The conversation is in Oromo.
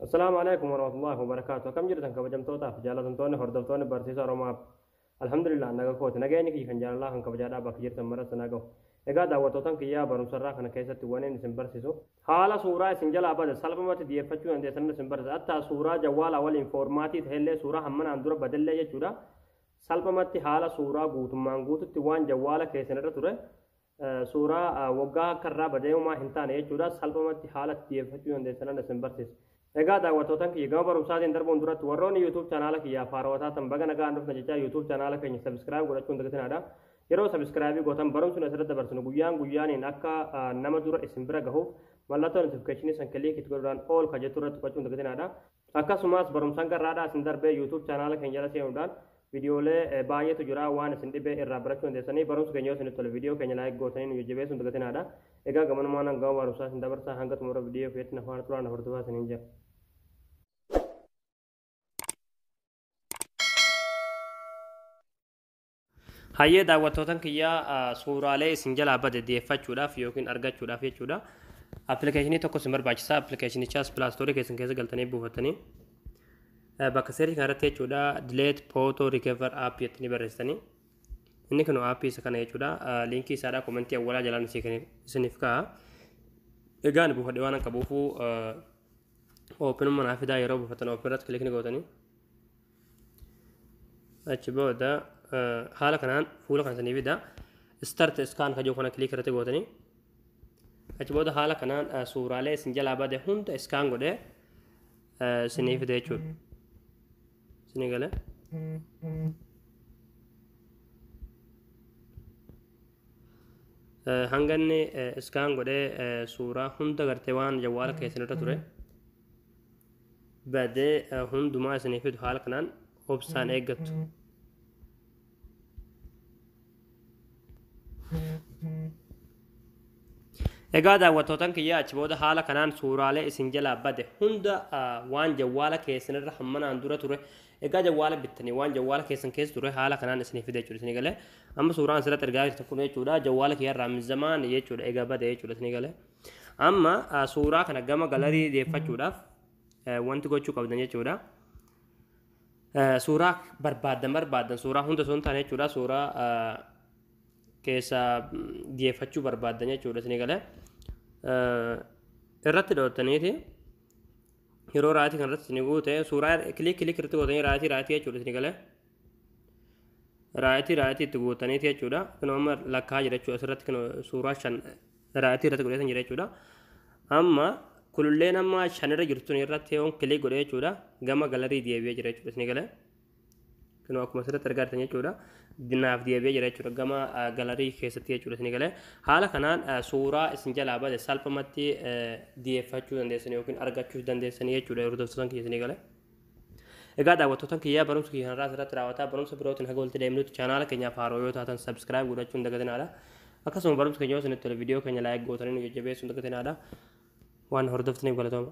Assalaamu alaikum warahmatullahi wabarakaatu. Akkam jirtan kabajamtootaaf jaalatamtoonni hordoftoonni barsiisa Oromaaf. Alhamdulillah naga kooti. Nageenyi kiyya kan jaalalaa kan kabajaadhaa bakka jirtan maratti na gahu. Egaa daawwattootan kiyyaa barumsarraa kana keessatti waniin isin barsiisu. Haala suuraa isin jalaa bade salphumatti dhiyeeffachuu dandeessan isin barsiisa. Attaa suuraa jawwaalaa waliin foormaatii ta'ellee suuraa hammanaan dura badellee jechuudha. Salphumatti haala suuraa guutummaan guututti waan jawwaala keessan irra ture suuraa waggaa akka irraa badee homaa hin taane jechuudha salphumatti haala itti dhiyeeffachuu dandeessanan isin barsiisa. Egaa daawwattootan kiyya gama barumsaatiin darbuun duratti warroonni YouTube chaanaala kiyyaa faarootaa tan baga nagaan dhufna jechaa YouTube chaanaala keenya sabiskiraayib godhachuun dagatinaadha. Yeroo sabiskiraayibii gootan barumsuun asirratti dabarsinu guyyaan guyyaaniin akka nama dura isin bira gahuuf mallattoo notifikashinii san kiliik itti godhuudhaan ool ka jettu irratti tuqachuun dagatinaadha. Akkasumas barumsa hanga irraadhaa isin darbee YouTube chaanaala keenya jala seenuudhaan viidiyoolee baay'eetu jira waan isin dhibe irraa barachuu dandeessanii barumsi keenya yoo isinitti tole viidiyoo keenya laayik gootanii nu jajjabeessuun dagatinaadha. Egaa gamanumaan hanga barumsaa isin dabarsaa hanga xumura viidiyoo keessatti na faana turaan hordofaa isiniin jira. Hayyee daawwattootan kiyyaa suuraalee isin jalaa bade deeffachuudhaaf yookiin argachuudhaaf jechuudha. Appilikeeshinii tokko isin barbaachisa. Appilikeeshinichaas pilaastoorii keessan keessa galtanii buufattanii bakka seerchi kanarratti jechuudha dileet photo recover app jettanii barreessitanii inni kun aappii isa kana jechuudha liinkii isaadha komentii awwalaa jalaan isiniif ka'a. Egaa ani buufadhe waan qabuufuu oopinummaa naaf fidaa yeroo buufattan oopin irratti kilikni gootanii. achi booda haala kanaan fuula kana sanii fida start scan ka jiru kana click irratti gootanii achi booda haala kanaan suuraalee isin jalaa bade hunda iskaan godhe isinii fide jechuudha isinii gale hanganni iskaan godhe suuraa hunda gartee waan jawwaala keessan irra ture badee eh, hundumaa isinii fidu haala kanaan obsaan eeggattu. Egaa daawwattootan kiyya achi booda haala kanaan suuraalee isin jalaa bade hunda ah, waan jawwaala keessan irra hammanaan dura ture egaa jawwaala bittanii waan jawwaala keessan keessa ture haala kanaan isinii fide jechuudha isinii galee amma suuraan asirratti argaa jirtan kun jechuudha jawwaala kiyya irraa mizamaan jechuudha egaa bade jechuudha isinii galee. Amma suuraa kana gama galarii deeffachuudhaaf wanti gochuu qabdan jechuudha. Suuraa barbaaddan barbaaddan suuraa hunda osoo hin taane jechuudha suuraa keessa deeffachuu barbaaddan jechuudha isin galee. Irratti dhoottaniiti yeroo raatii kan irratti isin guute suuraa kilik kilik irratti gootanii raatii raatii jechuudha isin galee. raayitii raayitii itti guutaniiti jechuudha kunoo amma lakkaa jira jechuudha asirratti kunoo suuraa shan raayitii irratti godheetan jira jechuudha amma kululleen amma shanirra jirtun irratti yoon kilik godhe jechuudha gama galarii deebi'ee jira jechuudha isin galee kunoo akkuma asirratti argaa jirtan jechuudha dinaaf deebi'ee jira jechuudha gama galarii keessatti jechuudha isin galee haala kanaan suuraa isin jalaa bade salphumatti deeffachuu dandeessan yookiin argachuu dandeessan jechuudha yeroo dabsatan keessa isin galee. Egaa daawwattootan kiyyaa barumsi kiyya har'aa asirratti raawwataa barumsa birootiin haga walitti deemnutti chaanaala keenyaaf haaroo yoo taatan subscribe godhachuu hin dagatinaadha. Akkasuma barumsi keenya yoo isinitti tole viidiyoo keenya like gootanii nu jajjabeessuu hin dagatinaadha. Waan hordoftaniif galatooma.